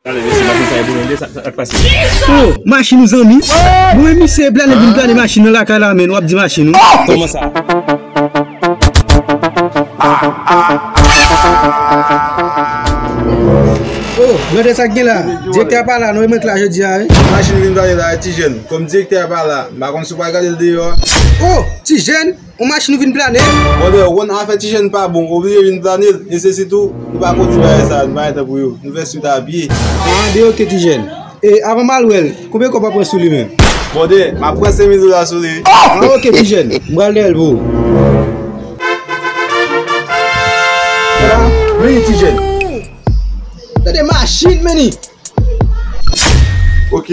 Plane mesye machin sa e pou blende sa sak pase. Oh machin ou zanmi. Bon men misye e plane vin plane machin nan lakay la menn wap di machin ou. Koman sa. Oh gade sak gen la. Direktè a pa la non e mwen k la jodi a wi. Machin ou vin plane la e ti jèn. Kòm direktè a pa la m pa konn si w pral gade l deyò a. Oh ti jèn. On machin ou vin plane? Brother ou konn afè ti jèn pa bon oblije vin plane l e se sitou nou pa konn di bagay sa nou pa gen tan pou yo nou fè suit a pye. Haa de ok ti jèn. E avan mal wèl konbyen kòb wap pran sou li menm? Brother map pran 5000 dola sou li. Haa ok ti jèn m pral dèyèl pou ou. Haa meni ti jèn. Tande machin meni. Ok.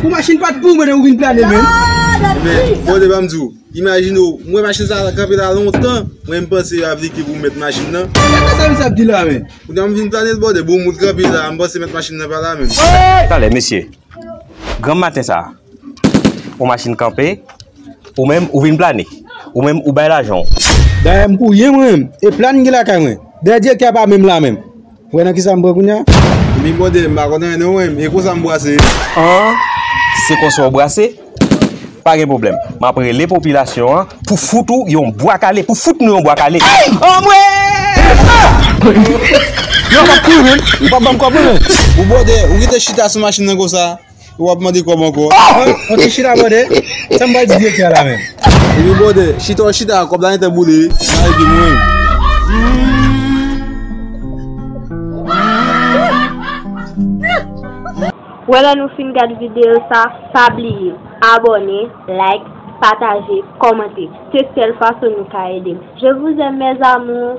Pou machin pat pou mwen ou vin plane men. Men, bon de banm di ou, imajine ou, mwen machin sa la kanpe la lontan, mwen m panse yo ap di ki pou mèt machin nan. Sa ka sa misye ap di la men. Pou nan m vin plane l bòde, bon moun kanpe la, m panse mèt machin nan pa la menm. Talè mesye, granm maten sa, on machin kanpe, ou menm ou vin plane, ou menm ou bay lajan ou. Dayè m pou ryen mwen menm, e plane m gen lakay mwen, dayè direktè a pa menm la menm. Ou wè nan kisa m pran kounya? Wi brother m pa konn anyen non e konsa m brase. An se konsa w brase? Pa gen pwoblèm m ap rele popilasyon an pou fout ou yon bwa kale pou fout nou yon bwa kale. Anmwee! Ou pa banm kòb mwen? Ou brother ou rete chita sou machin nan konsa? Ou ap mande kòb ankò. Ok chita bòdè, sa m pral di direktè a la menm. Epi bòdè, chita w chita a kòb la gentan boule nan epi nou menm. Wè lè nou fin gad videyo sa, pa bliye abòne, like, pataje, kòmante. Se sèl fason nou ka ede m. Je vous aime mes amours.